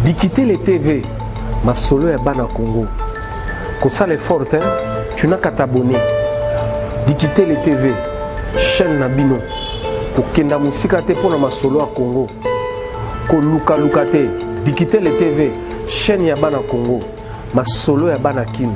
Dikitele TV, masolo ya bana Congo. Kosala effort hein, tu n'as qu'à t'abonner. Dikitele TV, chaîne na bino. Kokenda musika te pona masolo ya Congo. Koluka luka te. Dikitele TV, chaîne ya bana Congo. Masolo ya bana Kin.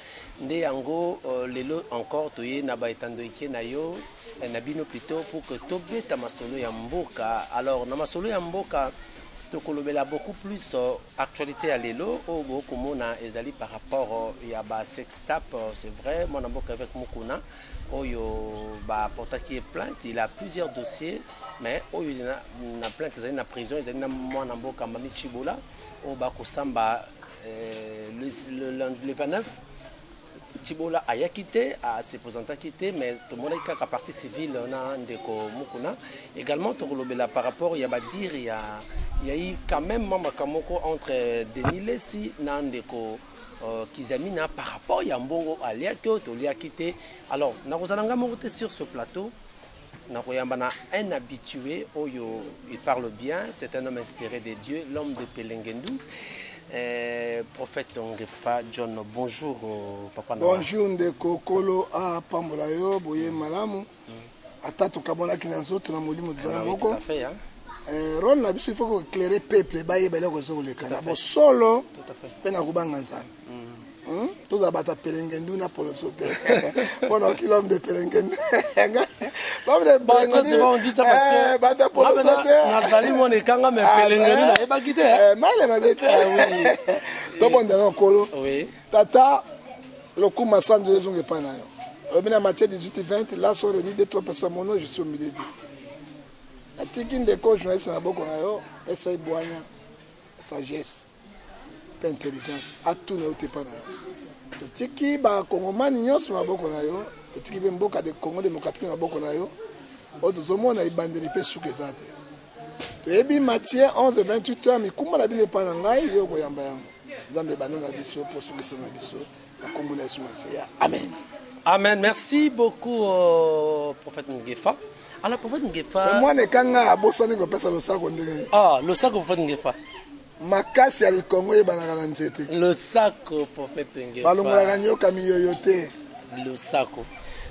Nde yango lelo encore toye na ba etandoike na yo na bino plutot pour que tobeta masolo ya mboka alors na masolo ya mboka tokolobela beaucoup plus actualite ya lelo oyo bokomona ezali par rapport ya ba sextap c'est vrai mwana mboka avec mukuna oyo ba portaki ye plainte il a plusieurs dossiers mais oyo na, na plainte ezali na prison ezali na mwana mboka mami chibola oyo bakosamba Euh, le, le, le 29, Tibola ayaki te, a se présentaki te, mais tomonaki kaka partie civile na ndeko Mukuna. Également tokolobela par rapport ya badire ya il y a eu quand même mama kamoko entre Denis Lessi na ndeko euh, Kizamina par rapport ya mbongo aliaki to toliaki te. Alors nakozala ngai moko te sur ce plateau. nakoyamba na un habitué oyo il parle bien c'est un homme inspiré de Dieu l'homme de Pelengendu eh, prophète Ongefa John bonjour euh, papa na bonjour ndeko kolo apambola yo boye mm. malamu mm. ata tokamonaki na nzoto na molimo tozali ah moko eh, role na biso il faut ko éclairer peuple bayeba eloko ezokoleka na bosolo mpe na kobanga nzambe tozala bato ya pelengendu na poloso te mpo naoki l'homme de pelengendu bato ya poloso te nazali mwana ekanga me pelengendu nayebaki te male mabe te tobondela na nkolo tata lokuma sandu ezonga epai na yo olobi na matie 18 20 la so reni de trois personnes mono je suis au milieu de natiki ndeko journaliste na boko na yo esai bwanya sagesse pe intelligence atuna yo te epa na yo totiki bakongomani nyonso na maboko na yo totiki mpe mboka de congo demokratike na maboko na yo oyo tozomona ebandeli mpe suka eza te toyebi matie 11 28 heures mikumba na bino epai na ngai yo okoyamba yango nzambe ebanda na biso mpo sukisa na biso Na kombo na Yesu Masiya. Amen. Amen. Merci beaucoup euh, prophète Ngefa. Alors prophète Ngefa. Mais moi ne kanga abosani ko pesa losako ndenge. Ah, losako prophète Ngefa. makasi ya likongo eyebanaka na nzete losako prophète Ngefa. balongolaka nyoka miyoyo te losako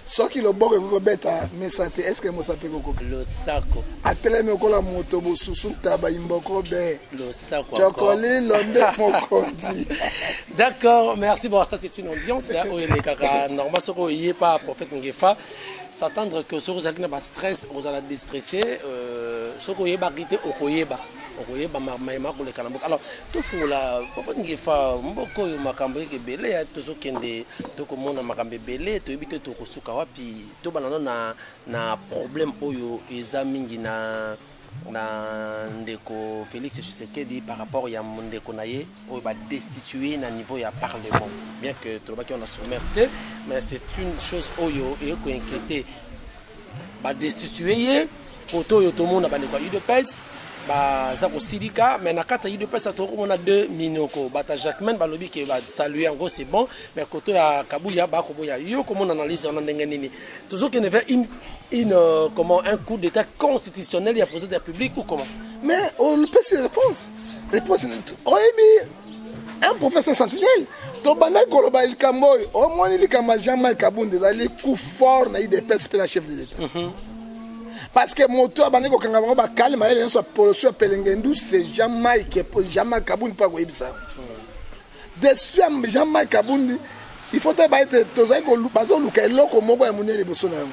soki loboko ekoki kobeta mesa te eske mosapi ekokoki losako atelemi okola moto bosusu ntaba imboko be losako cokoli londe mokonzi d'accord merci bon ça c'est une ambiance oyo elekaka normal soki oye pa prophète ngefa s'attendre que soki ozalaki na bastress ozala destresse euh, soki oyebaki te okoyeba okoyeba mai makoleka na mboka alors tofungola papa ngefa mboka oyo makambo eke ebele ya tozokende tokomona makambo ebele toyebi te tokosuka wapi tobana no na, na problème oyo eza mingi na na ndeko félix tshisekedi par rapport ya ndeko na ye oyo badestitue na niveau ya parlement bien que tolobaki wana sommaire te mais c'est une chose oyo eye koinquiéter ba destituer ye koto oyo tomona bandeko ya udps baza kosilika mais na kati ya udps atoki komona deux minoko bata jacquemaine balobi ke basalue yango c'est bon mais koto ya kabuya bakoboya yo komona analyse wana ndenge nini tozokende vers une, une euh, comment un coup d'état constitutionnel ya président ya publique ou comment mais on pesi réponse réponse oyebi un professeur sentinelle tobandaki koloba likambo oyo omoni likambo ya jean mike kabund ezali coup fort na idps mpe na chef de l'état mhm. parce que moto abandaki kokanga bango bakale mayele nyonso ya poloso ya pelengendu c'est jean mike jean mike kabund mpo akoyebisa yango mhm. dessus ya jean mike kabund il faut toyeba ete bazoluka eloko moko ya monene liboso na yango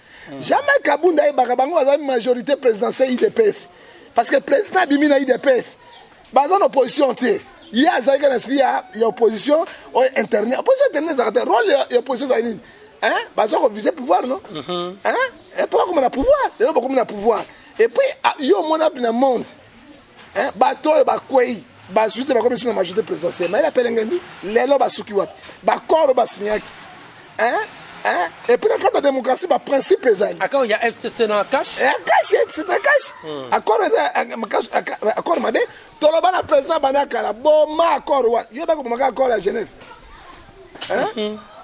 Jamais Kabunda ayebaka bango bazali majorité présidentielle UDPS. Parce que président abimi na UDPS. Baza na opposition te. Ye azalaki na esprit ya, ya opposition oyo internet. Opposition internet ezalaka te. Rôle ya, ya opposition ezali nini? Hein? Baza ko viser pouvoir non? Mm -hmm. Hein? Et puis bakoma na pouvoir. Lelo bakoma na pouvoir. Et puis ah, yo omona na monde Eh, bato oyo bakwei bazwi te bakomi biso na majorité présidentielle mayele apelengendi lelo basuki wapi bakoro oyo basignaki epuis na kati ya démocratie baprincipe ezali akao ya fcc na cash ya cash ya fcc na cash accord eza accord mabe toloba na président banda kala boma accord wana yo bako bomaka accord ya genève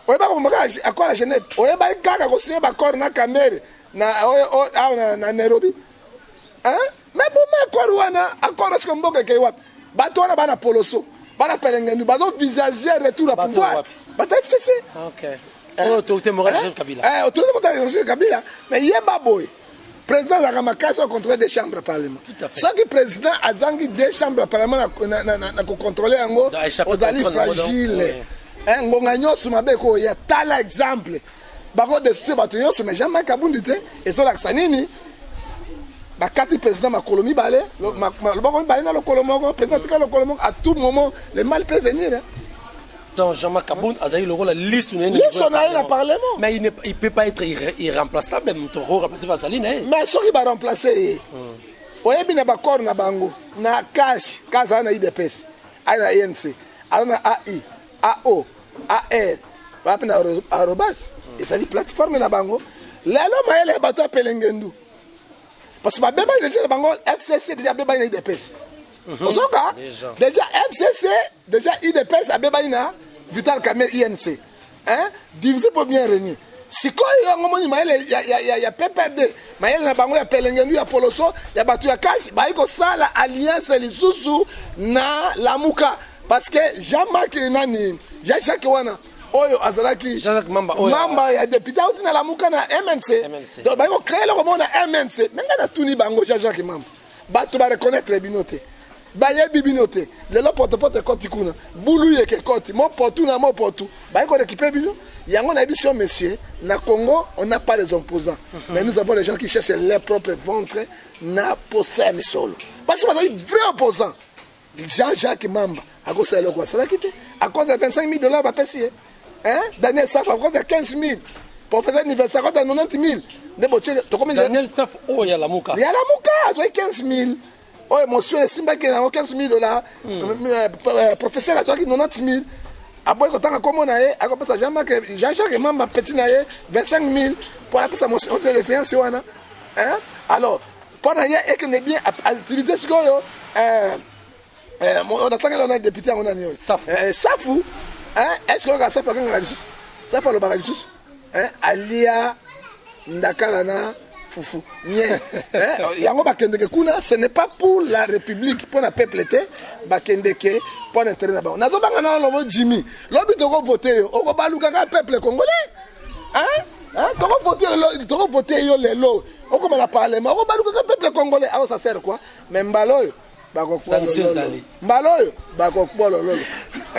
oyebaka bomaka accord ya genève oyebaki kaka kosigne baaccord na kamere na oyo awa na nairobi Mais boma accord wana, accord est-ce que mboka ekei wapi? Bato wana bana poloso, bana pelengendu, bazo visager retour à pouvoir. Bato FCC. Ah, OK. Eh, oh, autorité morale Joseph Kabila. Eh, autorité morale Joseph Kabila, mais yeba boy. Président azalaka makasi au contrôle des chambres parlement. Soki président azangi des chambres parlement na na na, na ko contrôler yango, ozali fragile. Eh, ngonga nyonso mabe ko ya tala exemple. bako destitue bato nyonso mais jean marc abundi te ezolakisa nini bakati président makolo mibale loboko mibale na lokolo moko président atika lokolo moko à tout moment le mal peut venir donc Jean-Marc Kabund azali lokola lisu na ye lisu na ye na parlement mais il, ne, il peut pas être irremplaçable moto oremplace bazali na ye mais soki baremplace ye hmm. oyebi na bacor na bango na cash kaza na idps aye na inc aza na ai AO, AR, wapi na arobase ezali plateforme na bango lelo mayele ya bato ya pelengendu parce que babebani deja na bango fcc deja abebani na idps mhm. ozoka deja fcc deja idps abebani na vital camere inc hein? divisé pour bien régner sikoyo yango moni mayele ya, ya, ya, ya pprd mayele na bango ya pelengendu ya poloso ya bato ya kashi bayi kosala alliance lisusu na lamuka parce que jean marc nani jean jacques wana oyo azalaki Jean-Jacques Mamba, oyo- mamba ya depute auti na lamuka na mnc MNC. donc baye kocreye eloko moko na mnc me ngai natuni bango jean jacques mamba bato bareconnaitre bino te bayebi bino te lelo potopoto ekoti kuna bulu yeke ekoti mopotu na mopotu baye korekipe bino yango na biso monsieur na congo on n'a pas les opposants mais nous avons les gens qui cherchent leur propre ventre na posa ya misolo basi bazali vrai opposant Jean Jacques Mamba akosala eloko asalaki te, akonza 25000 dollars bapesi ye. Hein? Daniel Safa akonza 15000. Professeur Université akonza 90000. Nde botie tokomi Daniel Safa oyo oh, ya Lamuka. Ya Lamuka azwaki 15000. Oyo emotion esimbaki yango 15000 dollars. Hmm. Euh, euh, professeur azwaki 90000. aboyi kotanga nkombo na ye akopesa jean marc jean jacques mamba petit na ye 25 000 mpo anapesa motion de defiance wana alors mpo na ye ekende bien atilise sikoyo eh, eh, onatangeli wana depute yango nani oyo safu eh, safu eske oyoka safu akangaka lisusu safu alobaka lisusu alia ndakala na fufu nye yango bakendeke kuna ce n'est pas pour la république mpo na peuple te bakendeke mpo na intérêt na bango nazobanga na lobo jimmy lobi tokovote yo okobalukaka peuple congolais Hein, toko voter lelo, toko voter yo lelo. Okoma na parlement, okobaluka ka peuple congolais, awo ça sert quoi? Mais mbalo oyo sanction ezali mbala oyo bakokbolo lolo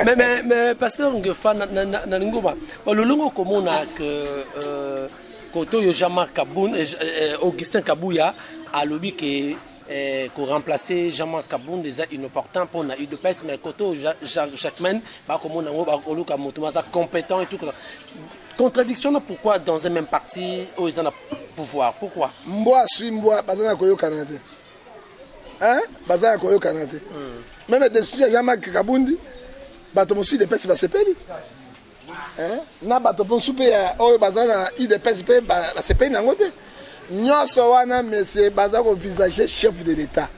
mais mais mais pasteur ngefa na lingoma ololongo komona que euh, koto yo Jean-Marc Kabun euh, euh, Augustin Kabuya alobi que eh, ko remplacer Jean-Marc Kabund eza inopportant pour na UDPS mais côté Jacquemin ba ko mona ngo ba ko luka mutu maza competent et tout contradiction na pourquoi dans un même parti o oh, eza na pouvoir pourquoi mbwa suis mbwa baza na koyokana te hein baza na koyokana te hmm. même décision ya Jean-Marc Kabund bato mosusu UDPS basepeli eh, na bato mposu mpe ya oyo baza na udps mpe basepeli na yango te nyonso wana mesie baza kovisage chef de l'état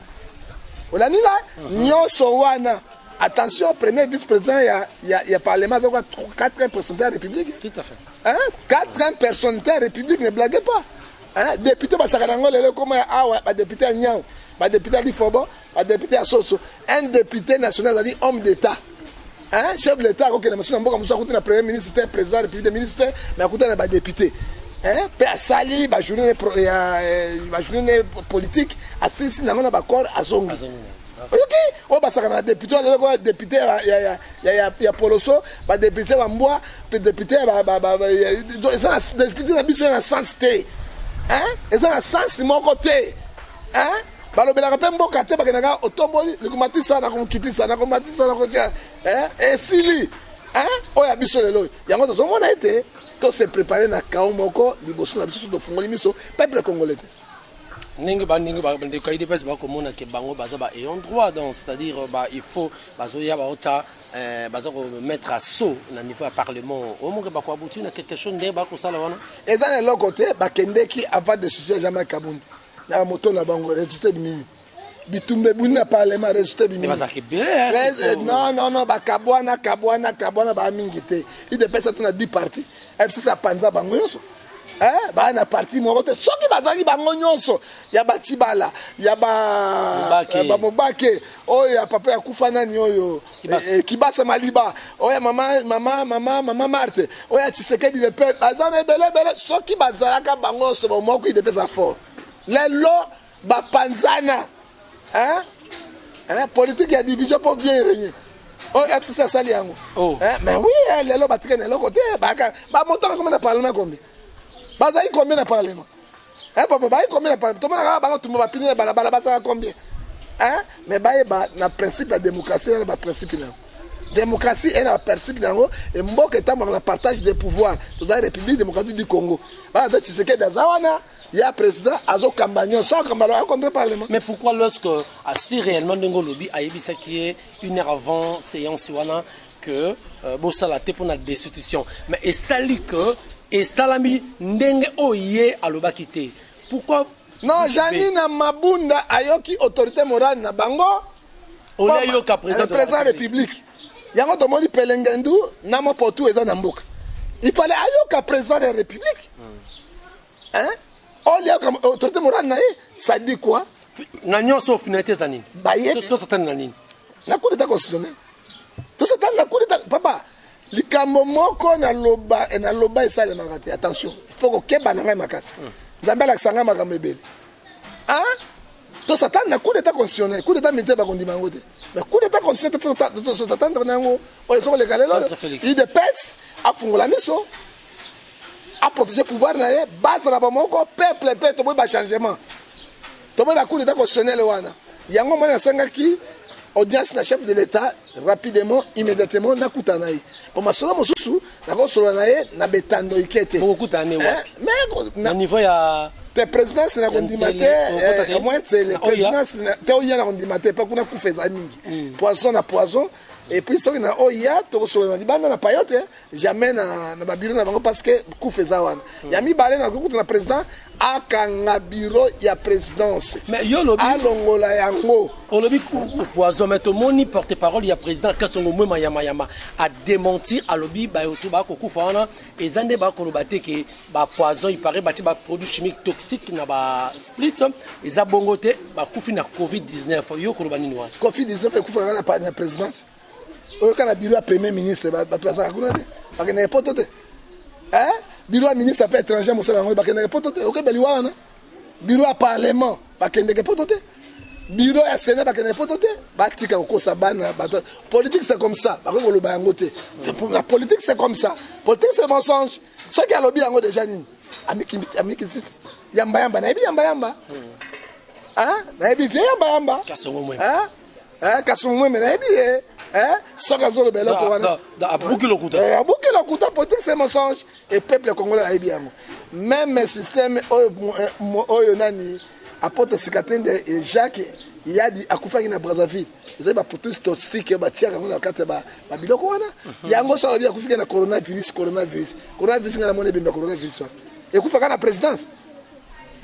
olandi nga mhm. nyonso wana attention premier vice président ya, ya, ya parlement aza kwa 4 personnalité ya république tout à fait hein? 4 personnalité ya république ne blague pas hein? député basaka na yango lelo ekoma ya awa badepute ya nyau badepute ya lifobo ba depute ya soso un depute national azali homme d'etat hein chef de l'état akokende mosusu na mboka mosusu akuti na premier ministre te président république de ministre te mais akuta na badepute hein mpe asali bajourne ya eh, bajourne politique asilisi nango na bacor azongi oyoki oyo basakana na depute oyo azalaki depute ya poloso badepute ya bambwa mpe depute eza na depute na biso ya na sens te eza na sens moko te balobelaka mpe mboka te bakendaka otomboli likumatisa na komkitisa na komatisa na kotia eh, esili eh, oyo ya biso lelo yango tozomona ete tose prepare na kao moko liboso na biso tofungoli miso peuple congolais te ndenge bandenge bandeko ya idps bakomona ke bango baza ba ayant droit donc c'est-à-dire euh, ba il faut bazoya baota euh, baza komettre assaut na niveau ya parlement omoke bakoabuti na quelque chose ndenge bakosala wana eza na eloko te bakendeki avant décision ya jama kabundi na moto na bango resultat ebimi nini bitumba ebuni na parlement resultat ebimi non non non bakabwana kabwana kabwana baa mingi te idps ata na 10 parti fcc apanza bango nyonso eh, baa na parti moko te soki bazalaki bango nyonso ya bacibala ya bamobake oyo ya papa ya kufa nani oyo Kibasa. eh, eh, kibasa maliba oyo ya mama mama mama mama marte oyo ya tshisekedi le père baza na ebele ebele soki bazalaka bango nyonso bomoko idepesa fort lelo bapanzana hein? Hein? politique ya division mpo bien régner oyo fcc asali yango Oh. Hein? mais oui eh, lelo batikani eloko te baka bamotaka koma na parlement kombi bazali combien na parlement eh papa baye combien na parlement tomona kaka baka tumba bapini na balabala bazala combien eh mais baye ba na principe ya démocratie na ba principe na démocratie est na principe na yango et mboka etambaka na partage des pouvoirs tozali république démocratique du congo baza tshisekedi aza wana ya président azokamba nyonso akamba lo akontre parlement mais pourquoi lorsque asi réellement ndenge olobi ayebisaki ye une heure avant séance wana que euh, bosala te pona destitution mais esali que esalami ndenge oyo ye alobaki te pourquoi non janina mabunda ayoki autorité morale na bango olayoka président de la république yango tomoni pelengendu na mopotu eza na mboka il fallait ayoka président de la république hmm. hein Oli ya kama autorité morale na ye, ça dit quoi? Na nyoso finalité za nini? Ba ye to satani na nini? Na coup d'état constitutionnel. To satani na coup d'état papa likambo moko na loba et na loba esalemaka te attention il faut kokeba na ngai makasi hmm. nzambe alakisa ngai makambo ebele ah to satani na coup d'état constitutionnel coup d'état militaire bakondima yango te mais coup d'état constitutionnel totatandre na yango oyo ezokoleka lelo idps afungola miso a protéger pouvoir na ye base na bomoko peuple pe toboyi ba changement toboyi ba coup d'état constitutionnel wana yango mwana asengaki audience na chef de l'état rapidement immédiatement nakutana ye po masolo mosusu nakosolola na ye na betando ike te na niveau ya te présidence na kondima te eh, omwa nsele présidence te oya na kondima te mpo kuna kufa ezali mingi mm. poison na poison epuis soki na oya tokosolola na libanda na payote jamais na, na babiro na bango parce que kufa eza wana mm. ya mibale na kokuta na président akanga biro ya présidence alongola yango olobi poison mais tomoni porte parole ya président kasongo mwe mayamayama adementir alobi bayoto bakokufa wana eza nde bakoloba te ke bapoison ipare batie baproduit chimique toxique na basplit eza bongo te bakufi na covid-19 yo koloba nini wana covid-19 ekufaka na présidence oyo kaka biro ya premier ministre bato bazalaka kuna te bakendeke poto te eh? biro ya ministre ape étranger mosala yango bakendeke poto te oke baliwa wana biro ya parlement bakendeke poto te biro ya sena bakendeke poto te batika kokosa bana bato politique c'est comme ça bakoki koloba yango te la politique c'est comme ça politique c'est mensonge soki alobi yango déjà nini amikiti yambayamba nayebi yambayamba hmm. ah, nayebi vie yambayamba eh, kasi omweme nayebi ye eh, soki azoloba eloko wana abuki lokuta eh, abuki lokuta pote se mensonge e peuple congolais ayebi yango meme systeme oyo, eh, oyo nani apote sikatende e jacques yadi akufaki na brazzaville ezali baprotus toxique oyo batiaka yango na kati ya babiloko wana mhm. yango so alobi akufika na coronavirus coronavirus coronavirus ngai namoni ebemba coronavirus wana ekufaka na présidence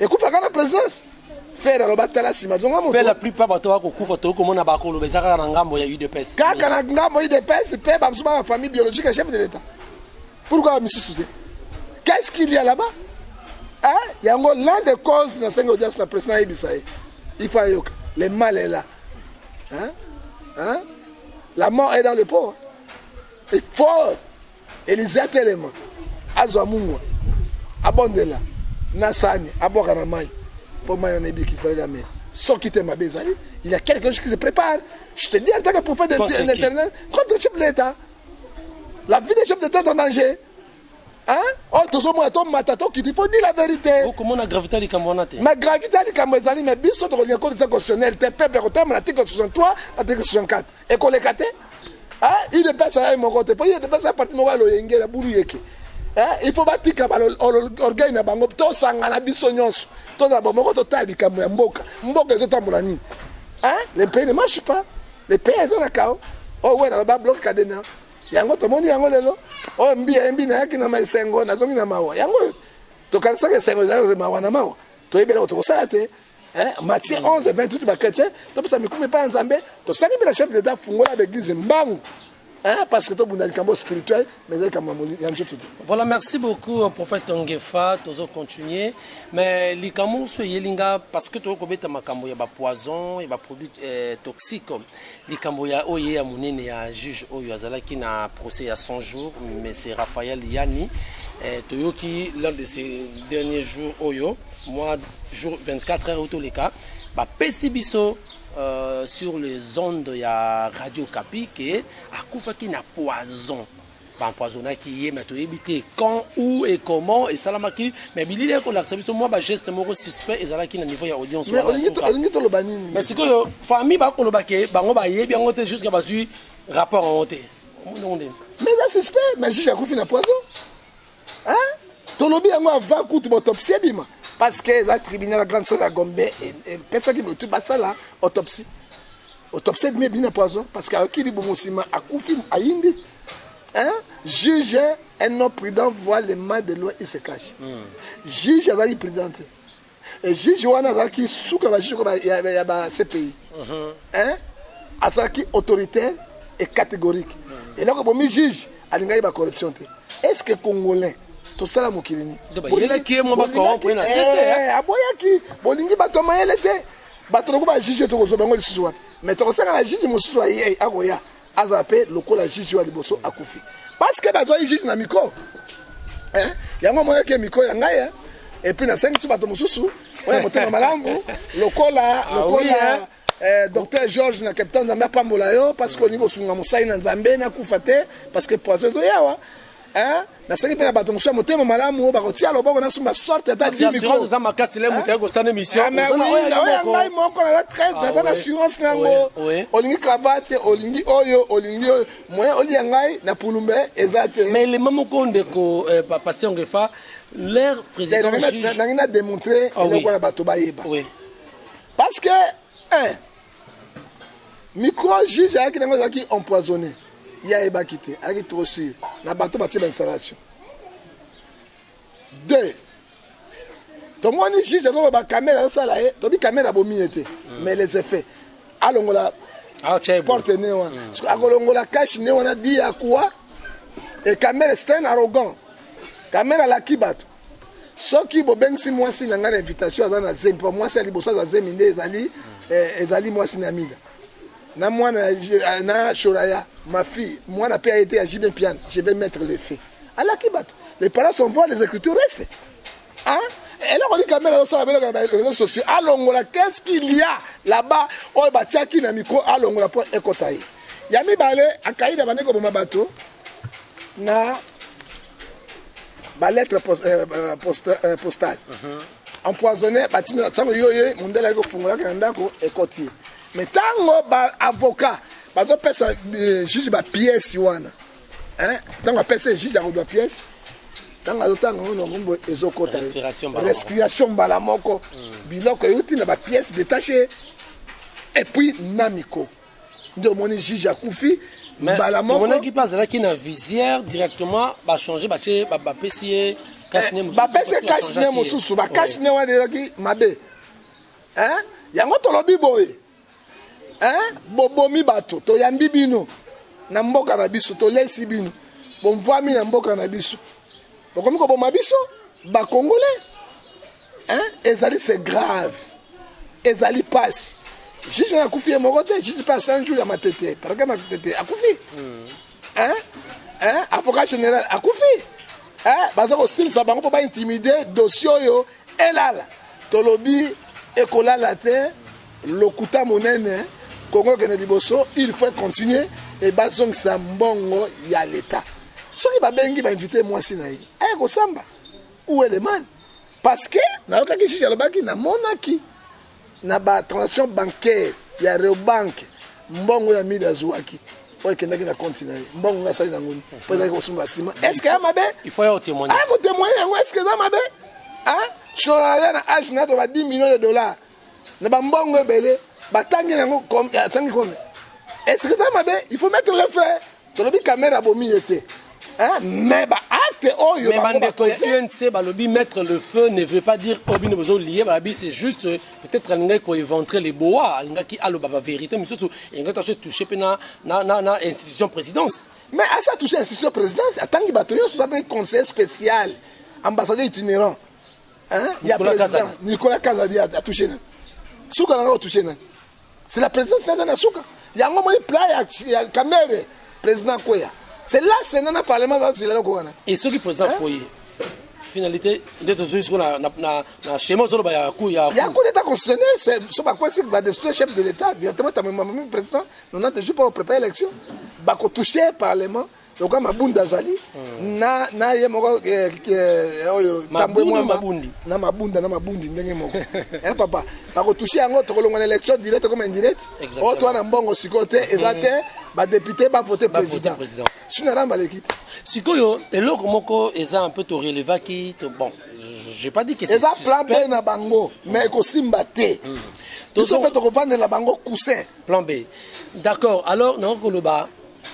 ekufaka na presidence fere aloba tala nsima zonga moto la plupart bato bakokufa tokoki komona bakoloba eza kaka na ngambo ya udps kaka na ngambo udps mpe bamosusu baka famille biologique ya chef de l'état pourquoi bamisusu te qu'est ce qu'il y a là-bas hein? yango l'un de cause na sengi audience na président ayebisa ye il faut ayoka le mal est là hein? Hein? la mort est dans le pot il faut Elize atelema, azwa mungwa, abondela na sani, abwaka na mai mpo mai wana eyebi Israel ameli. Soki te mabe ezali, il y a quelque chose qui se prépare. Je te dis en tant que prophète éternel, contre le chef de l'État. La vie des chefs d'État est en danger. Hein? Oh, tozomona tomata tokiti faut dire la vérité okomona gravité ya likambo wana te ma gravité ya likambo ezali mais biso tokolinga kote constitutionnel te peuple akotambola article 63 article 64 ekoleka te udps aya moko te mpo udps ya parti moko ya loyenge ya bulu yeke il faut batika orgueil na bango tosangana biso nyonso tozala bomoko totala likambo ya mboka mboka ezotambola nini le pays ne marche pas le pays eza na kao oyo oh, wena loba bloke kadena yango tomoni yango lelo oyo oh, mbi yembi nayaki na esengo nazongi na mawa yango oyo tokanisaka esengo ezali mawa na mawa toyebi eloko tokosala te eh, matie 11 et 28 bachrétien topesa mikumi epai ya nzambe tosali mpe na chef d'état fungola baeglise mbangu Hein, parce que tobunda likambo spirituel mais ezali likambo ya nzoto te voilà merci beaucoup euh, prophète ongefa tozo continuer mais likambo mosusu eyeli nga parce que tokoki kobeta makambo ya bapoison ya baproduit euh, toxique Likambo ya oye ya monene ya juge oyo azalaki na procès ya 100 jours, monsieur Raphaël Yami, eh, toyoki l'un de ces derniers jours oyo, moi jour 24 heures otoleka, bapesi biso euh, sur les ondes ya Radio Kapi ke akufaki na poison. ba empoisonnaki ye mais toyebi te quand où et comment esalamaki mais bilili ekolakisa biso mwa bageste moko suspect ezalaki na niveau ya audience Mais wana olingi to- suka. olingi toloba nini mais sikoyo famille bakoloba ke bango bayebi yango te jusqu'à bazwi rapport yango te Omoni yango ndenge? mais eza suspect mais juge akufi na poison Hein? tolobi yango avant kutu bautopsie ebima parce que eza tribunal ya grande sala ya gombe e- epesaki motu basala autopsie Autopsie ebimi ebimi na poison parce que ayoki libumu nsima akufi ayindi un juge un homme prudent voit le mal de loin il se cache mm. juge azalaki prudent te e juge wana azalaki suka bajuge ya bacpi mhm. un azalaki autoritaire et catégorique mm. eloko ebomi juge alingaki bacorruption te est ce que congolais tosala mokili nini aboyaki bolingi bato ya mayele te bato lokola ba juge tokozwa bango lisusu wapi mais tokosenga na juge mosusu aye akoya azala mpe lokola juge wa liboso akufi parce que bazwaki juge na miko eh? yango omonaki miko ya ngai eh? epuis nasengi tu bato mosusu oya motema malamu lokola ah lokola Eh, docteur george na capitaine nzambe apambola yo parce que olingi kosunga mosali na nzambe nakufa te parce que poison ezoyawa Eh, nasengi mpe na bato mosusu ya motema malamu oyo bakotia loboko na sumba sorte ata dimikoeza makasi le moto yakosana emissionoya ngai moko naza traite naza na assurance na yango olingi cravate olingi oyo olingi oyo moye olia ngai na pulumbe eza te mais elema moko ndeko eh, pasteur ngefa leur président nangi na démontre eloko na bato bayeba parce que micro juge ayaki nango ezalaki empoisonné ye ayebaki te ayaki trop sur na bato batie bainstallation deux tomoni juge azoloba kamera azosala ye tobi kamera abomi ye te mm. mais les effets alongola ah, porte ne wana mm. akolongola kashe ne wana di ya kuwa e kamera c'est un arrogant kamera alaki bato soki bobengisi mwasi na ngai na invitation aza na zemi mpo mwasi ya liboso azwa zemi nde ezali eh, ezali mwasi na mida na mwana ya- na shoraya ma fille mwana mpe aye te ya jibe mpiana je vais mettre le fait alaki bato les parents sont voir les écritures restent Hein? eloko nini kamera osala beloko na bareseau sociaux alongola qu'est-ce qu'il y a là-bas oyo batiaki na micro alongola mpo ekota ye ya mibale akaida bande koboma bato na balettre post, euh, euh, post, euh, postale uh mhm. -huh. empoisonne batinda ntango yo ye mondele ayaki kofungolaka na ndako ekoti ye mais ntango baavocat bazopesa euh, juge bapièce wana ntango apesa ye juge akodwa pièce ntango azotanga ngo nongombo ezokota respiration mbala moko mm. biloko euti na bapièce detache epuis na miko nde omoni juge akufi mbala mokomonaki mpe azalaki na visière directement bachange batie bapesi ye bapesi ye cash ne mosusu bacash ne wana ezalaki mabe yango tolobi boye bobomi bato toyambi bino na mboka na biso tolesi bino bomvwami na mboka na biso bokomi koboma biso ba congolais hein? ezali c'est grave ezali pasi juge oyo akufi ye moko te juge mpe asan jour ya matete parke matete akufi hmm. hein? Hein? avocat général akufi hein? baza kosilisa bango mpo baintimide dossier oyo Elala tolobi ekolala te lokuta monene Congo kende liboso il faut continuer et bazongisa mbongo ya l'etat soki babengi bainvite mwasi na ye aya kosamba ou elemani parce que nayokaki juge alobaki namonaki Na ba transactions bancaires ya Reobank, mbongo oyo Amida azuaki oyo ekendaki na compte na ye, mbongo nga asali nango nini? Po ezalaki kosunga sima. Est ce que eza mabe? Il faut ya otemoigne. Aya kotemoigne yango, est ce que eza mabe? Hein? Shoraya na age na to ba 10 millions de dollars na ba mbongo ebele batangi nango atangi combien? Est ce que eza mabe? Il faut mettre le feu. tolobi kamere abomi ye te mais baacte oyo mais bandeko ya unc balobi mettre le feu ne veut pas dire oyo bino bozolie balobi c'est juste euh, peut-être alingaki koéventre le boa alingaki aloba bavérité mosusu elingaki aso touche mpe na, na, na, na institution présidence mais asi atouche institution présidence atangi bato nyonso aza mpe conseiller spécial ambassadeur itinérant ya président nicolas kazadi atouche nani suka nanga otouche nani C'est la présidence naza na suka. Yango moni plat ya, ya Kamere, président Kweya. C'est là c'est na parlement va zela loko wana. Et soki président hein? Kweya finalité nde tozwi siko na, na, na, na schéma ozoloba ya ku ya ya coup d'état constitutionnel so bakwesi badestroy chef de l'état directement tamemamami président 90 jours mpo koprépare élection bakotouche parlement loka mabundi azali hmm. na na ye moko eh, eh, oyo tambwe mwamba na mabunda na mabundi ndenge moko eh papa bakotushe yango tokolongwa na élection direct comme indirect oyo oh, toa na mbongo sikoyo te eza hmm. te badepute bavote président sino aramba aleki te sikoyo eloko moko eza un peu torelevaki bon j'ai pas dit que eza plan b na bango mais hmm. ekosimba te biso mpe tokovandela bango coussin plan b d'accord alors nakoki koloba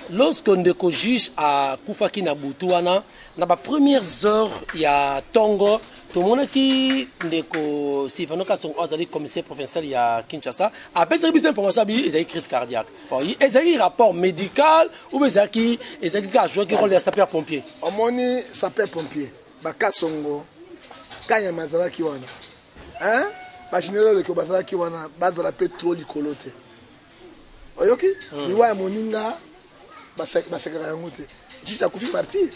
Lorsque ndeko juge akufaki na butu wana na ba premières heures ya tongo tomonaki ndeko Sylvano Kasongo oyo azali commissaire provincial ya Kinshasa apesaki biso information abi ezali crise cardiaque bon, ezalaki rapport médical ou ezalaki ezalaki kaka jouaki rôle ya sapeur pompier omoni sapeur pompier bakasongo kanyama azalaki wana hein? bagénéral leko bazalaki wana bazala mpe trop likolo te oyoki liwa ya moninga basekaka yango te jiji akufi martire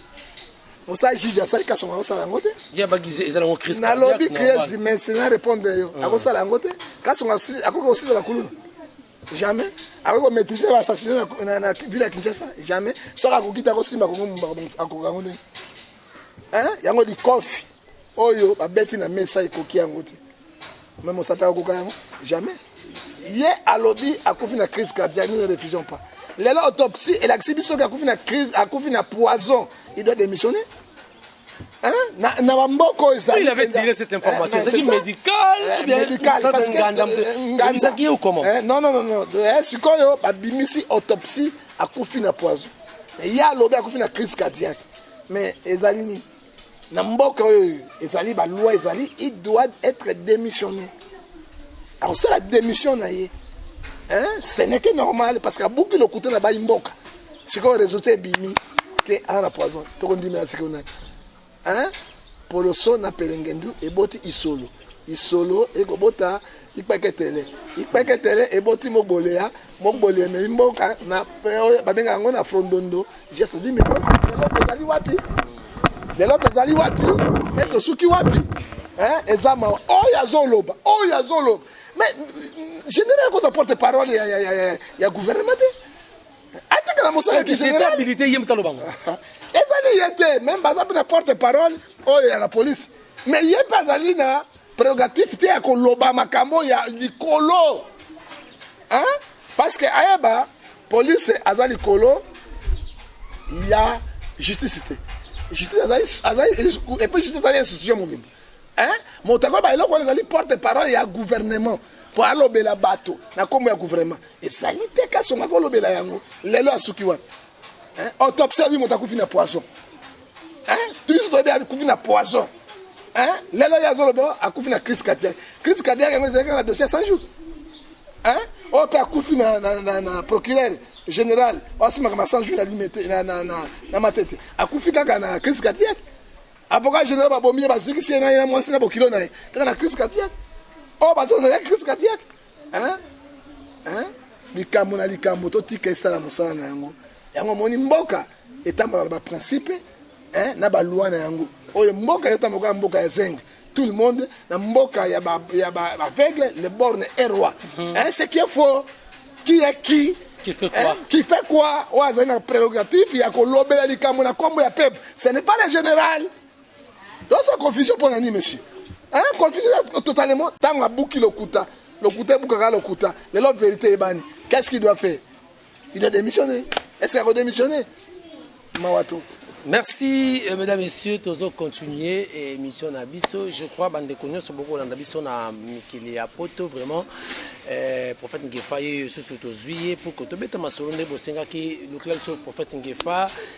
mosala juge asali kasonga akosala yango te nalobi crise mais na répondre yo hmm. akosala yango te kasonga akoki kosisa bakuluna jamais akoki komaitrise baassassine na ville ya kinshasa jamais soki akoki te akosimba kongo mumba akoka yango ndenge yango likofi oyo babeti na mesa ekoki yango te mais mosata akokoka yango jamais ye alobi akufi na crise cardiaque nous ne refusons pas lelo autopsie elakisi biso ke akufi na crise akufi na poison il doit démissionner Hein? na, na bamboka oyo ezali il avait tiré cette information hein, ezalaki médicale eh, médicale parce que ngandamsaki ye ou comment eh, non non non non eh, sikoyo babimisi autopsie akufi na poison ye alobi akufi na crise cardiaque mais ezali nini na mboka oyo ezali ba loi ezali il doit être démissionné akosala démission na ye hein? ce n'est que normal parce que abuki lokuta na bayi mboka sikoyo résultat ebimi te aza na poison tokondimela sikoyo nani hein? poloso na pelengendu eboti isolo isolo ekobota Ikpeketele. Ikpeketele eboti Mogbolea. Mogbolea ememi mboka na oyo babenga yango na frondondo gesto di milo. Lelo tozali wapi? Lelo tozali wapi? E tosuki wapi? Eh, eza mawa. Oyo azoloba, oyo azoloba. Mais général koza porte parole ya ya ya ya gouvernement te. Atikala mosala ki général. Habilité yem taloba. Ezali yete, même baza na porte parole oyo ya la police. Mais yep azali na prerogative te ya koloba makambo ya likolo hein? parce que ayeba police aza likolo ya justice te justice azali azali epuis justice azali institution mobimba hein? moto akoyeba eloko wana ezali porte parole ya gouvernement mpo alobela bato na nkombo ya gouvernement ezali te kasongo akolobela yango lelo asuki wapi Hein? Autopsie ya moto akufi na poison. Hein? Tulizo toyebi akufi na poison. Hein? Lelo ya zoloba akufi na crise cardiaque. Crise cardiaque yango ezalaki na dossier 100 jours. Hein? Oyo mpe akufi na, na, na, na procureur général oyo asimaka ma 100 jours na limete na, na, na, na matete akufi kaka na crise cardiaque. Avocat général babomi ye bazikisi ye na ye na mwasi na bokilo na ye kaka na crise cardiaque. Oyo bazozala crise cardiaque. hein hein likambo na likambo totika esala mosala na yango yango omoni mboka etambola na baprincipe hein, na balwa na yango oyo mboka ezotambola kaka mboka ya zenge tout le monde na mboka ya ba ya ba aveugle le borne est roi mhm. hein c'est qui est faux qui est qui qui fait quoi hein? qui fait quoi oyo azali na prérogative ya kolobela likambo na kombo ya peuple ce n'est pas le général Oza confusion pona nini monsieur? Hein, confusion totalement tango abuki lokuta. Lokuta ebukaka lokuta. Lelo verite ebani. Qu'est-ce qu'il doit faire? Il doit démissionner. Est-ce qu'il va démissionner? Mawato. Merci euh, mesdames messieurs, tozo continuer émission na biso. Je crois bande konyoso boko landa biso na mikili ya poto vraiment euh, prophète Ngefa ye susu tozuiye pour que tobeta masolo nde bosengaki lokela biso prophète Ngefa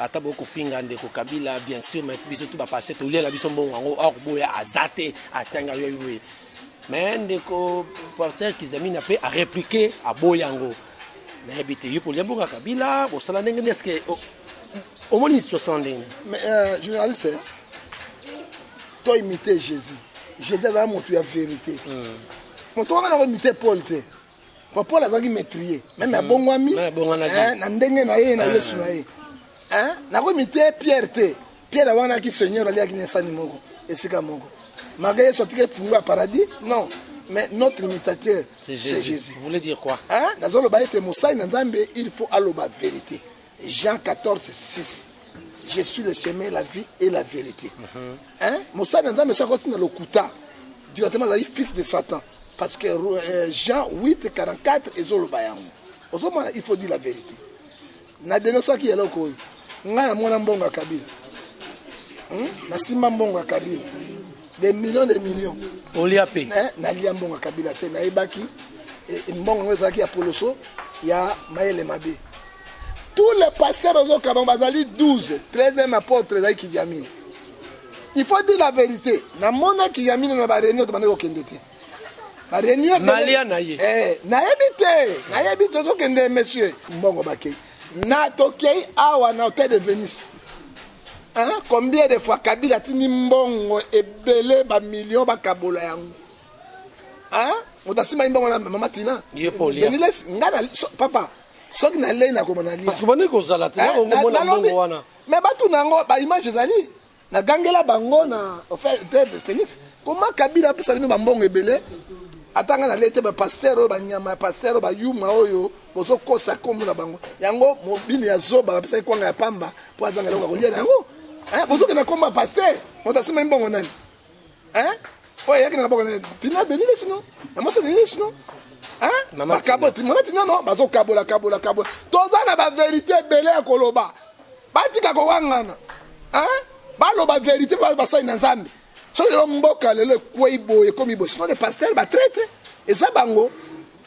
ata boye kofinga ndeko kabila bien sûr mais biso tu bapasse tolia na biso mbongo yango or boya aza te atanga yo boye mais ndeko porter kizamina mpe areplike aboya yango nayebi te yo polia mboka kabila bosala ndenge nini eske omoni situation ndenge mais euh, journaliste to imite jésus jésus azala moto ya vérité hmm. moto wana na koimite paul te Papa Paul azalaki maîtrier, meme mm. abongwami eh, na ndenge na ye na eh. Yesu na ye. Eh, nakomi te Pierre te. Pierre awanaki Seigneur aliaki na sani moko, esika moko. Malgré Yesu atikaki fungo ya paradis, non. Mais notre imitateur, c'est Jésus. Jésus. Vous voulez dire quoi? Hein? Nazoloba ete mosali na Nzambe, il faut aloba vérité. Jean 14 6 je suis le chemin la vie et la vérité mhm. hein? mosali na nzambe soki akoti na lokuta directement azali fils de satan parce que euh, jean 8 44 ezoloba yango ozomona il faut dire la vérité na denosaki eloko oyo ngai namona mbongo ya kabila hmm? nasimba mbongo ya kabila des millions des millions olia mpe eh, nalia mbongo ya kabila te nayebaki eh, mbongo yango ezalaki ya poloso ya mayele mabe tous les pasteurs ozo kaba bazali 12 13e apôtre ezali kidiamini il faut dire la vérité namona kidiamini na ba réunion tobandi kokende te ba réunion nalia na ye eh, nayebi te nayebi tozokende monsieur mbongo bakei na tokei awa na hôtel de venise hein? combien de fois kabila atindi mbongo ebele bamillion bakabola yango hein? moto asimbai mbongo na mama tina ngai papa soki nalei nakoma nalia parce que bandi kozala te Eh, nako na- komona nalobi- mbongo wana me batu na yango baimage ezali nagangela bango na ofe- te félix koma kabila apesa bino bambongo ebele ata ngai nalei te bapaster oyo banyama ya paster oyo bayuma oyo bozokosa kombo na bango yango mobini ya zoba bapesaki kwanga ya pamba mpo azanga eloko ya kolia na yango Eh, bozokenda kombo ya paster moto asimba mbongo nani Hein? Oyo ayaki na kaboko na Tina Denis Lessi non? Na mwasi Denis Lessi non? Hein? Mama Bakabo Tina. Mama Tina non? Bazo kabola kabola kabola. Toza na ba verite ebele ya koloba. Batika kowangana. Hein? Baloba verite ba basali na Nzambe. Soki lelo mboka lelo ekwei boye ekomi boye. Sinon les pasteurs ba traitre eza bango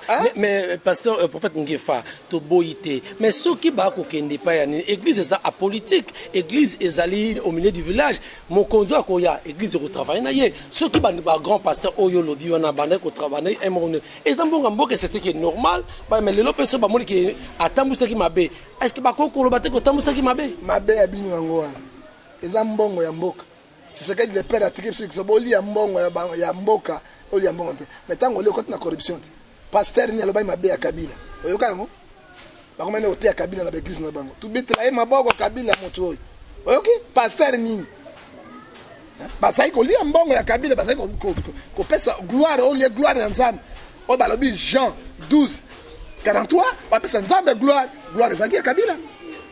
Hein? Mais, mais euh, pasteur euh, prophète Ngefa toboyi te mais soki bakokende epai ya nini église eza apolitique église ezali au milieu du village mokonzi oyo akoya église ekotravaille na ye soki ba- bagrand pasteur oyo olobi wana bandaki kotravaille emoni eza mbonga mboka eseteke normal ba- mais lelo mpe so bamoni ke atambwisaki mabe est ce que bakoki koloba te kotambwisaki mabe mabe ya bino yango wana eza mbongo ya mboka Tshisekedi le père atiki biso likiso bolia mbongo ya, ya mboka olia mbongo mpe me ntango olie okoti na corruption te pasteur nini alobaki mabe ya kabila oyoka yango bakomani oteya kabila na baeglise na bango tubetela ye maboko kabila motu oyo oyoki pasteur nini bazali kolia mbongo ya kabila bazali kopesa gloire olie gloire ya nzambe oyo balobi jean 12 43 bapesa nzambe gloire gloire ezalaki ya kabila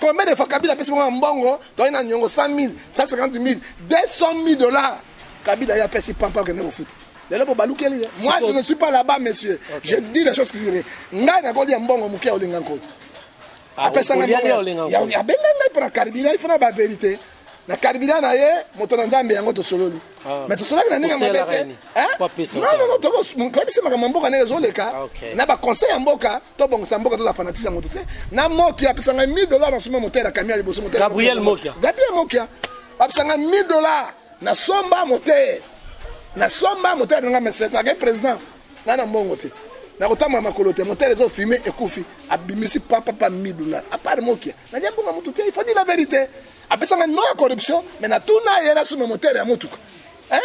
Combien de fois Kabila apesi bango mbongo toye na nyongo 100 000, 150 000, 200 000 dollars. Kabila ye apesi pampa okende kofuta. Lelo bo balukeli ye. Moi je ne suis pas là-bas monsieur. Okay. Je dis les choses qui sont ngai na kolia mbongo mukia olinga nko. Ah, apesa ngai mbongo. Ya abenga ngai pona Kabila il faut na ba vérité. Na Kabila na ye moto na Nzambe yango tosololi. Ah. Mais tosolaki na ndenge mabe te. Hein? Non non non toko koyebisa makambo mboka ndenge ezoleka ah, na ba conseil ya mboka. tobongisa mboka tozala fanatise ya moto te na mokia apesa ngai 1000 dollar na suma motere ya kamia liboso gabriel mokia gabriel mokia apesa ngai 1000 dollar na somba motere na somba motere na ngai mesete akei président ngai na mbongo te nakotambola makolo te motere ezofime ekufi abimisi papapa midula apart mokia nalia mbongo ya motu te ifadi la verité apesa ngai no ya corruption me natuna ye nasuma motere ya motuka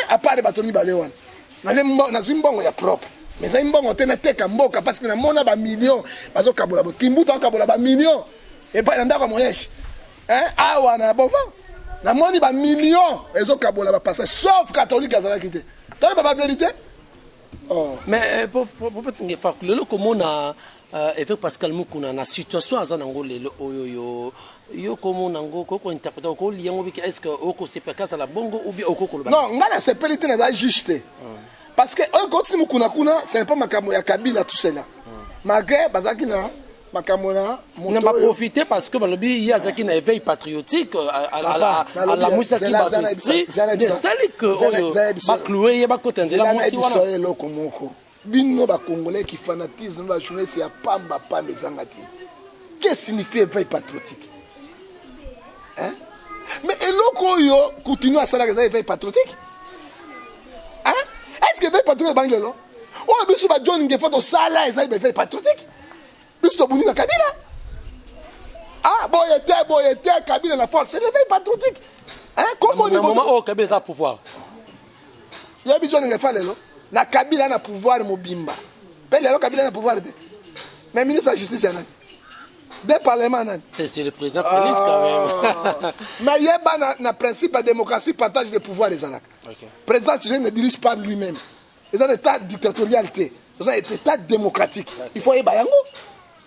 apart bato mibale wana nalembo nazwi mbongo ya propre mais ezali mbongo te nateka mboka parce que namona bamillion bazokabola bo kimbuta akabola bamillion epai na ndako ya moyeshi awa na bova namoni bamillion ezokabola bapasa sauf katholike azalaki te toleba baverité oh. mais eh, prophète ngefa lelo komona Uh, Evêque Pascal Mukuna na situation aza nango lelo oyo yo yo komo nango ko ko interprète ko liya ngo biki est-ce que oko sepela kaza la bongo ou bien oko koloba Non, nga na sepeli te naza juge te. Parce que oyo kotisi mukuna kuna, ce n'est pas makambo ya Kabila tout cela. Malgré bazaki na makambo na moto na ba oyo- profiter parce que balobi ye azaki na éveil patriotique euh, à- à- à- Papa, à- nalobi, alamusaki zela- bato zela- esprit zela- zela- mais esali que zela- oyo zela- biso- bacloue ye bakota nzela Zela na mwasi biso wana eloko moko. Bino ba congolais ki fanatisme ba journaliste ya pamba pamba ezanga ti. Que signifie veille patriotique? Hein? Mais eloko oyo Coutinho asalaka eza veille patriotique? Hein? Est-ce que veille patriotique bangi lelo? Oyo biso ba John Ngefa tosala eza veille patriotique? biso tobundi na kabila ah boye te boye te kabila na force réveil patriotique hein kombo ni moment oyo kabila eza pouvoir yo biso ndenge fa lelo na kabila na pouvoir mobimba mpe lelo kabila na pouvoir te mais ministre ya justice ya nani de parlement nani c'est le président félix quand même ah. mais yeba na, na principe ya démocratie partage de pouvoir ezalaka okay. président ne dirige pas lui-même eza na etat dictatorial te eza na etat démocratique il faut ayeba yango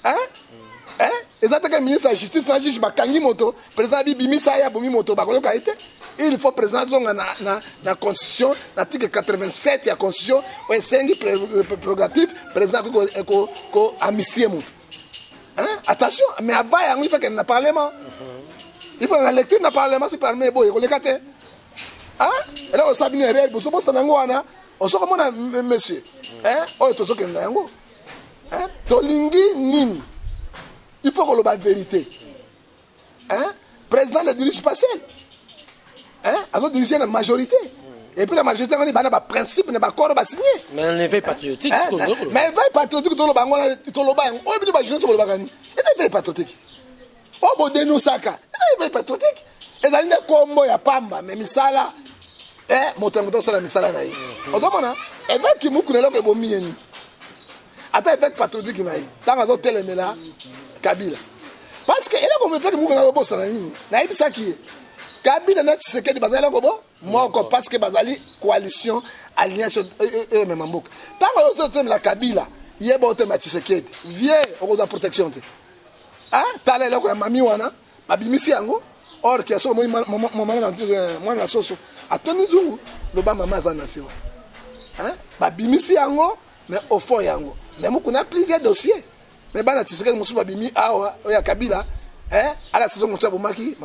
hein hein eza te ke ministre ya justice na juge bakangi moto président abi bimisa ye abomi moto bakoyoka ye te il faut président azonga na, na, na constitution na article 87 ya constitution oyo esengi prérogative président akoki koamnistie ko, ko, moto hein? attention mais avant yango il faut kende na parlement il faut na lecture na parlement si parlement eboye koleka te Ah, eloko osala bino erreur bozobosana yango wana ozokomona monsieur eh, oyo tozokende na yango eh, tolingi nini il faut koloba verité hein? président ne dirige pas seul hein? azodirige na majorité et puis la majorité ngani bana ba principe na ba corps ba signé mais un éveil patriotique hein? hein? mais éveil patriotique toloba ngona toloba yango oyo bino ba jeunesse bolobaka ni éveil patriotique oyo bodenosaka ezali mpe patriotique ezali nde kombo ya pamba me misala eh, moto na moto asala misala na ye ozomona eveke kimuku na eloko ebomi ye nini ata eveke patriotique na ye ntango azotelemela kabila parce que eloko mefeke muku nazobosana nini nayebisaki ye kabila na tshisekedi bazali eloko bo moko parce que bazali coalition alliance oyo euh, euh, euh, emema mboka ntango ozotelemela kabila yeba otelemela tshisekedi vie okozwa protection te ah tala eloko ya mami wana babimisi yango or ke soki omoni eh, mwana na soso atoni nzungu loba mama aza na nsima babimisi yango mais au fond yango mais mokuna plusieurs dossier mais bana tisekeli mosusu babimi awa oyo ya kabila eh, ala saison mosusu abomaki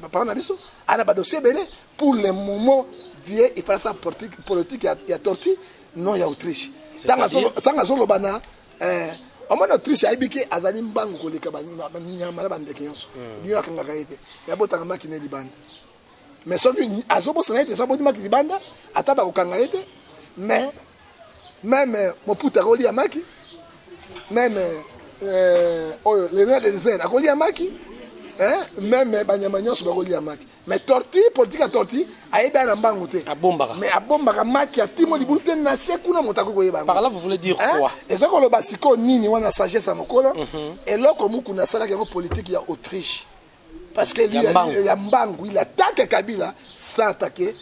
papa na biso ana badossier ebele pour le moment vie efalasa politique ya torti non ya autriche ntango azoloba na eh, omoni autriche ayebi ke azali mbangu koleka banyama na bandeke nyonso hmm. bino akangaka ye te me abotaka maki na ye libanda me soki azobosana ye te so aboti maki libanda ata bakokanga ye te me meme moputa akolia maki meme eh, oyo le roi de désert akolia maki eh, meme banyama nyonso bakolia maki mais torti politique ya torti ayebi ana mbangu te abombaka mais abombaka maki ya timo libulu te na se kuna moto akoki koyeba par là vous voulez dire hein? quoi eza koloba sikoyo nini wana sagesse ya mokolo mm -hmm. eloko mukuna asalaki yango politique ya autriche parce que lui ya mbangu il attaque kabila sans attaquer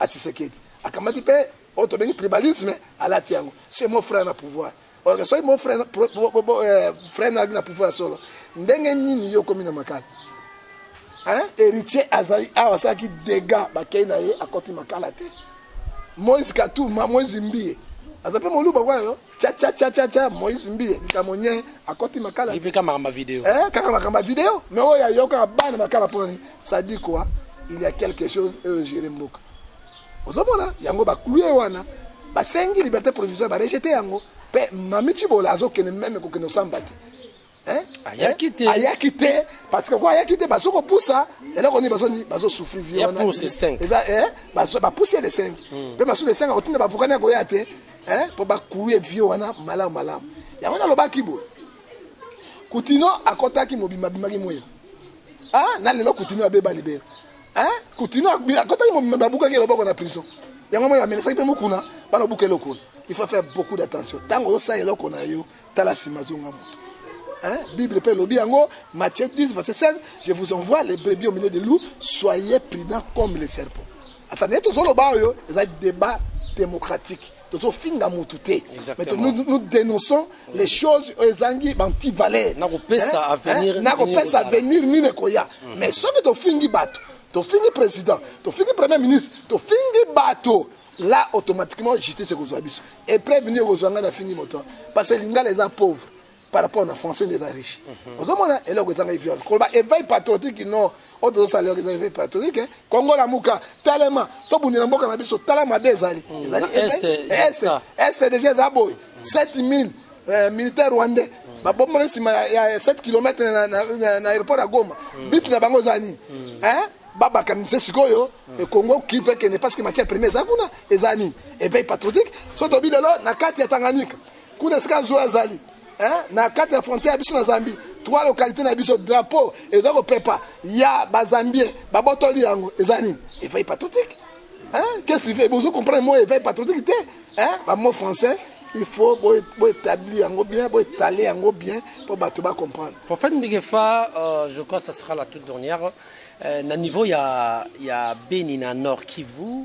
atisekedi akamati mpe oyo tobengi tribalisme alati yango c'est mon frère na pouvoir Ok, soki mon frère, pro, bo, bo, bo, eh, frère na na pouvoir solo. Ndenge nini yo komi na makala? Hein? Héritier azali awa asalaki dégâts bakei na ye akoti makala te. Moïse Katuma, Moïse Mbiye. aza mpe moluba kwa yo chachachachacha moïse mbiye likambo nye akoti makala eh, kaka makambo video eh, kaka makambo video mais oyo ayokaka bana makala mpo nani sadi quoi il y a quelque chose oyo gere mboka ozomona yango baclue wana basengi liberté provisoire barejete yango mpe mami cibola azokende meme kokende osamba te eh? ayaki eh? te ayaki te parce que ko ayaki te bazo kopusa eloko nini bazo nini bazo souffrir vie wana eza eh bazo bapusi ya lesengi hmm. mpe basusu lesengi akotinda bavukani akoya te eh mpo bakuye vie wana malamu malamu yango nalobaki boye kutino akotaki mobimba bimaki mwele ah na lelo kutino abeba libela Hein? Coutinho akotaki mobimba babukaki ye loboko na prison. Yango moi amenasaki mpe mokuna bana obuka eloko wana. Il faut faire beaucoup d'attention. Ntango ozosala eloko na yo tala nsima zonga moto. Hein? Bible mpe elobi yango Matthieu 10 verset 16 je vous envoie les brebis au milieu des loups soyez prudents comme les serpents. Ata nde tozoloba oyo eza débat démocratique. tozofinga mutu te mais to, nous, nous dénonçons mm. les choses oyo ezangi banti valeur nakopesa avenir hein? nakopesa avenir nini ekoya mm. mais soki tofingi bato tofingi président tofingi premier ministre tofingi bato là automatiquement justice ekozwa biso epreuve nini ekozwa ngai nafingi moto parce que lingala eza pauvre par rapport na français nde eza riche mhm. ozomona eloko ezanga eviance koloba eveil patriotique no oyo tozosala eloko eza eveil patriotique eh. kongo lamuka telema tobundela mboka na biso tala mabe ezali mm. ezali este deja eza boye 7000 euh, militaire rwandais mm. babomba nsima ya 7 km na aéroport ya goma mm. bit na bango eza nini eh? babakanisa sikoyo ekongo kivu ekende parce que matière première eza kuna eza nini eveil patriotique so tobi lelo na kati ya tanganyika kuna esika zuwa azali na kati ya frontière ya biso na zambie trois localité na biso drapeau eza kopepa ya bazambien babotoli yango eza nini eveil patriotique qu'est-ce qu'il fait bozo comprendre moi eveil patriotique te bamo français il faut boétablir yango bien boétaler yango bien mpo bato bacomprendre prophète mbigefa euh, je crois ça sera la toute dernière euh, na niveau ya, ya beni na nord kivu euh,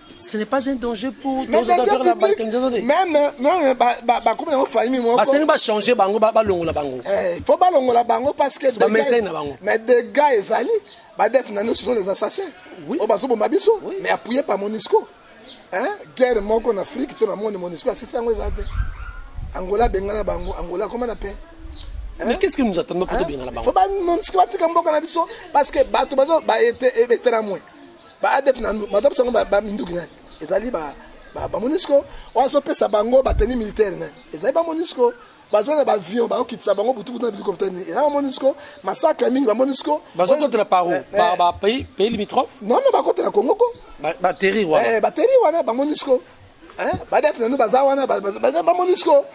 ce n'est pas un danger pour Mais tozo danger faire la public, balkanisation te même même ba- ba- bakomi nango famille moko basengi bachange bango ba- balongola bango Eh, faut balongola bango parce que Ba dégâts- message na bango. mais dégâts ezali badef na nous ce sont les assassins Oui. oyo bazoboma biso Oui. mais appuyé par monisco Hein? guerre moko na afrique to na moni monisco asisi yango eza te angola abengana bango angola akoma na paix mais qu'est ce que nous attendons mpo tobengana bango faut ba monisco batika mboka na biso parce que bato bazo baeteramwe ba adf na madame sango ba minduki nani ezali ba ba, ba monisco wazo pesa bango ba tenue militaire nani ezali ba monisco baza na baavion bakokitisa bango butubutu na bilikopta nini eza bamonisco masakre mingi bamonisco bazokotela paro eh, eh. pays limitrophe non non bakotela congo ko bateri wana eh, bateri wana bamonisco badef nanu baza wana bamonisco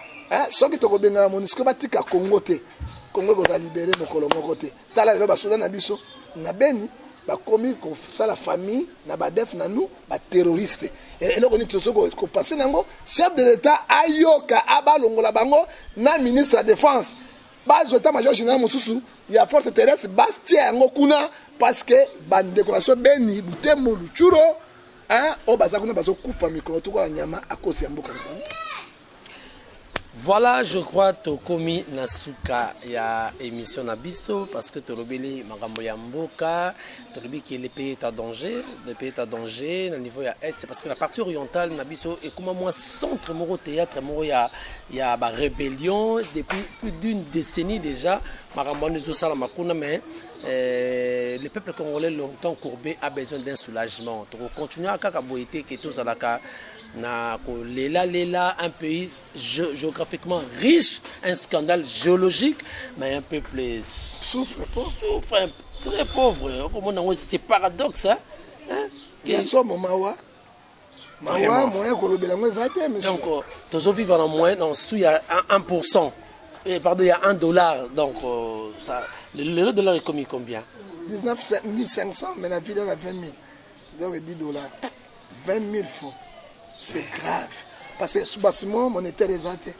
soki tokobengana monisco batika congo te congo ekozala libere mokolo moko te Tala lelo basoda na biso na Beni bakomi kosala famille na badef na nous baterroriste eh, eloko nini tozo kopense na yango chef de l'état ayoka abalongola bango na ministre ya défense bazwa ta major général mosusu ya force terrestre bastia yango kuna parce que bandeko na biso beni butembo lucuro oyo baza kuna bazokufa mikolo toko ya nyama akosi ya mboka na bango Voilà, je crois tokomi na suka ya émission na biso parce que tolobeli makambo ya mboka, tolobi que les pays est à danger, les pays est à danger na niveau ya est parce que la partie orientale na biso ekoma mwa centre moko théâtre moko ya ya ba rébellion depuis plus d'une décennie déjà makambo wana ezosalama kuna mais euh, le peuple congolais longtemps courbé a besoin d'un soulagement tokocontinua kaka boye te ke tozalaka na kolela lela un pays géographiquement riche un scandale géologique mais un peuple souffre souffre très pauvre okomona yango c'est paradoxe hein? Hein? ya nsomo mawa mawa moyen kolobela yango eza te donc euh, tozovivre na moyen na nsu ya 1 pourcent eh, pardon ya 1 dollar donc euh, ça, lelo dollar ekomi combien 19 500 mais na vida na 20 000 donc 10 dollars 20000 francs c'est grave parce que sous bâtiment monétaire eza te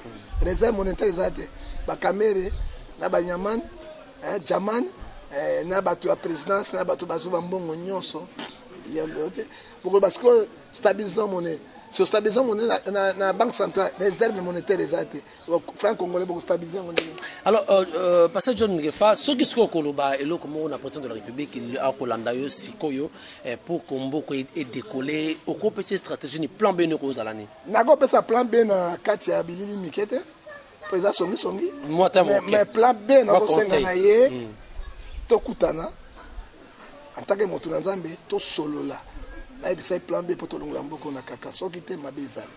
réserve monétaire eza te bakamere na banyaman eh, jaman eh, na bato ya présidence na bato bazwi bambongo nyonso te bokoloba sikoyo stabilisant monnaie sur stabilisant monnaie na, na, na banque centrale réserve monétaire eza te franc congolais boko stabiliser yango ndenge alors euh, euh, pasteur john ngefa soki sikoyo koloba eloko moko na président de la république akolanda yo sikoyo eh, pour komboko e, edekole okopesa stratégie ni plan beni okozala nini nakopesa plan b na kati ya bilili mike te mpo eza songisongi mais plan b nakosenga na ye hmm. tokutana en tant que moto na nzambe tosolola nayebisa ye plan b mpo tolongola mboko na kaka soki te mabe ezali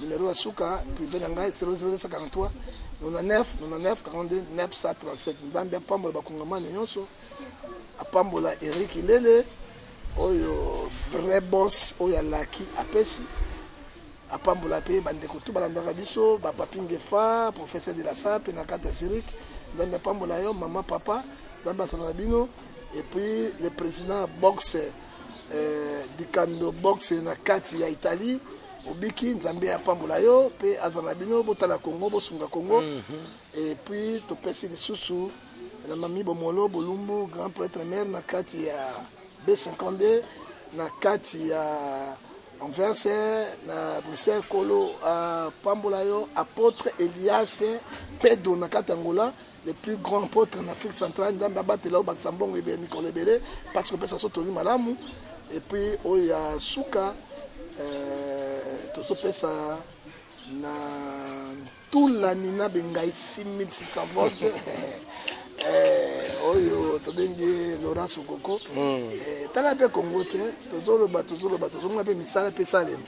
Numero ya suka prive na ngai 00243 99 99 42 937. Nzambe apambola bakongomani nyonso, apambola Eric Lele oyo vrai boss oyo alaki apesi apambola mpe bandeko tu balandaka biso bapapingefa professeur de la sape na kati ya zurich nzambe apambola yo mama papa nzambe asala na bino epuis le président boxe euh, dikando boxe na kati ya italie obiki nzambe apambola yo mpe azala na bino botala kongo bosunga kongo mhm. epuis topesi lisusu na mami bomolo bolumbu grand prêtre mare na kati ya b52 na kati ya anvers na bruxelles kolo apambola yo apotre elias pedo na kati ya ngola le plus grand apôtre en Afrique centrale nzambe abatela obakisa mbongo ebele mikolo ebele mpasi kopesa so toli malamu epuis oyo ya suka euh, tozopesa na ntula nina bengai 6600 vote euh, oyo tobengi laurent sokoko hmm. euh, tala mpe kongo te tozoloba tozoloba tozonga mpe misala mpe esalema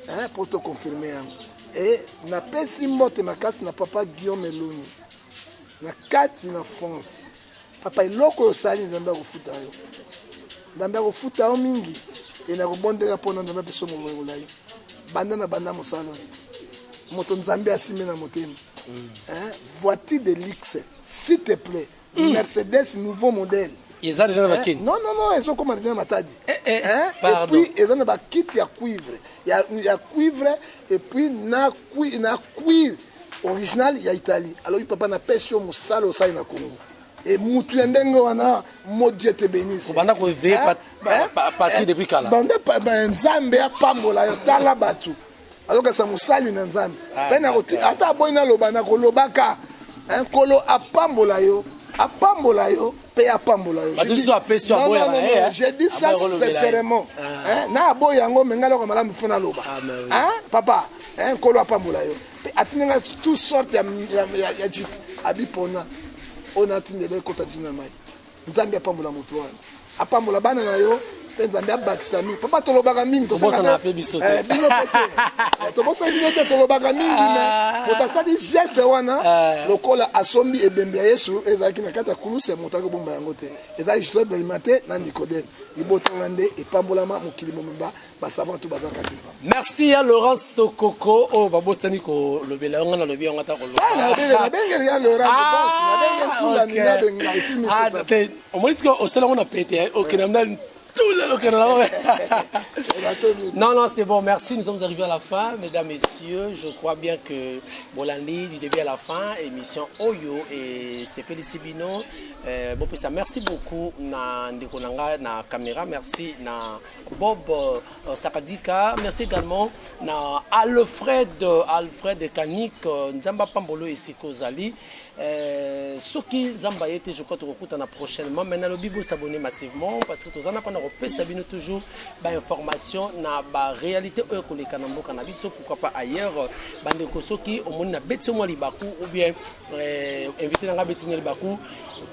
Eh, pour te confirmer yango. Et napesi mbote makasi na papa Guillaume Eloni na kati na France. Papa eloko oyo osali Nzambe akofuta yo. Nzambe akofuta yo mingi e nakobondela mpo na Nzambe apesa yo molongo na ye. Banda na banda mosala oyo. Moto Nzambe asimbi na motema. Mm. Eh, voiture de luxe, s'il te plaît. mm. mercedes nouveau modèle eza deja na eh, bakini non non non ezokoma deja na matadi eh, eh, eh, epuis eza na bakiti ya cuivre ya, ya cuivre epuis na, kui, na cuir original ya italie alobi papa napesi yo mosala osali na congo e mutu ya ndenge wana mo dieu te benisse obanda koeveye pati depuis kala banda nzambe apambola yo tala bato azokatisa mosali na nzambe ah, pene ata aboyi naloba nakolobaka eh, nkolo apambola yo apambola yo mpe apambola yo eh, je dis ça sincèrement ah. eh, na aboyi yango me ngai loko malamu fo naloba ah, papa nkolo apambola yo mpe atindi ngai tout sorte ya jipe abipona oyo natindela ekota dina mai nzambe apambola moto wana apambola bana na yo mpe nzambe abakisa mingi papa tolobaka mingi tobosana mpe biso te Eh, bino mpe te Eh, tobosana bino te tolobaka mingi me moto asali geste wana lokola asombi ebembe ya yesu ezalaki na kati ya kulusi ya moto akobomba yango te ezalaki joseph belimate na nikodeme libotanga nde epambolama mokili mobimba basava to baza kati mpa merci ya laurent sokoko oyo oh, babosani kolobela yango nalobi yango ata kolobabengeli ya laurentnabengentulaninabengaaisimisate ah, ah, omoni tika osala yango na pete eh, okenda mna tula lokenda na bango non non c'est bon merci nous sommes arrivés à la fin mesdames messieurs je crois bien que bolandi du début à la fin émission oyo esepelisi bino euh, bopesa merci beaucoup na ndeko na ngai na caméra merci na Bob euh, Sakadika. Merci également na Alfred, euh, Alfred Kanik, euh, Nzamba Pambolo et Siko Zali. Euh, soki Nzamba était, je crois, tokokutana prochainement. Mais na lobi s'abonner massivement parce que tozana kona kopesa bino toujours ba information na ba réalité oyo koleka na mboka na biso pourquoi pas ailleurs bande ko soki omoni na beti mwa libaku ou bien Eh, invité na ngai betino libaku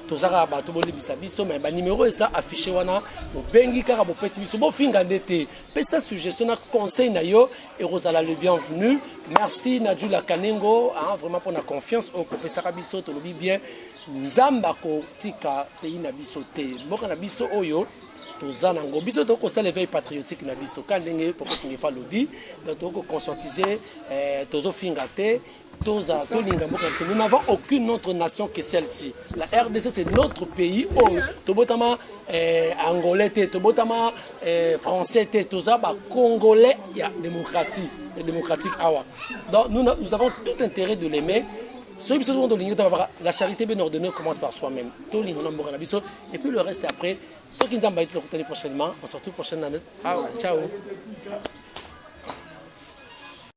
toza kaka bato bolibisa biso me banimero eza affiche wana bobengi kaka bopesi biso bofinga nde te pesa suggestion na conseil na yo ekozala le bienvenu merci na jula kanengo hein, vraiment mpona confiance oyo kopesaka biso tolobi bien nzambe akotika pays na biso te mboka na biso oyo toza nango biso tokoki kosala éveil patriotique na biso ka ndenge poko kingefa alobi donc tokoki koconscientise eh, tozofinga te toza tolinga mboka biso nous n'avons aucune autre nation que celle-ci la rdc c'est notre pays oyo oh, tobotama eh, angolais te tobotama eh, français te toza bacongolais ya démocratie ya démocratique awa donc nous, nous avons tout intérêt de l'aimer soki biso soko tolingi tobabaka la charité bien ordonnée commence par soi-même tolinga na mboka na biso et puis le reste après soki nzambe ayiti tokutani prochainement on se retrouve prochaine année ah, ciao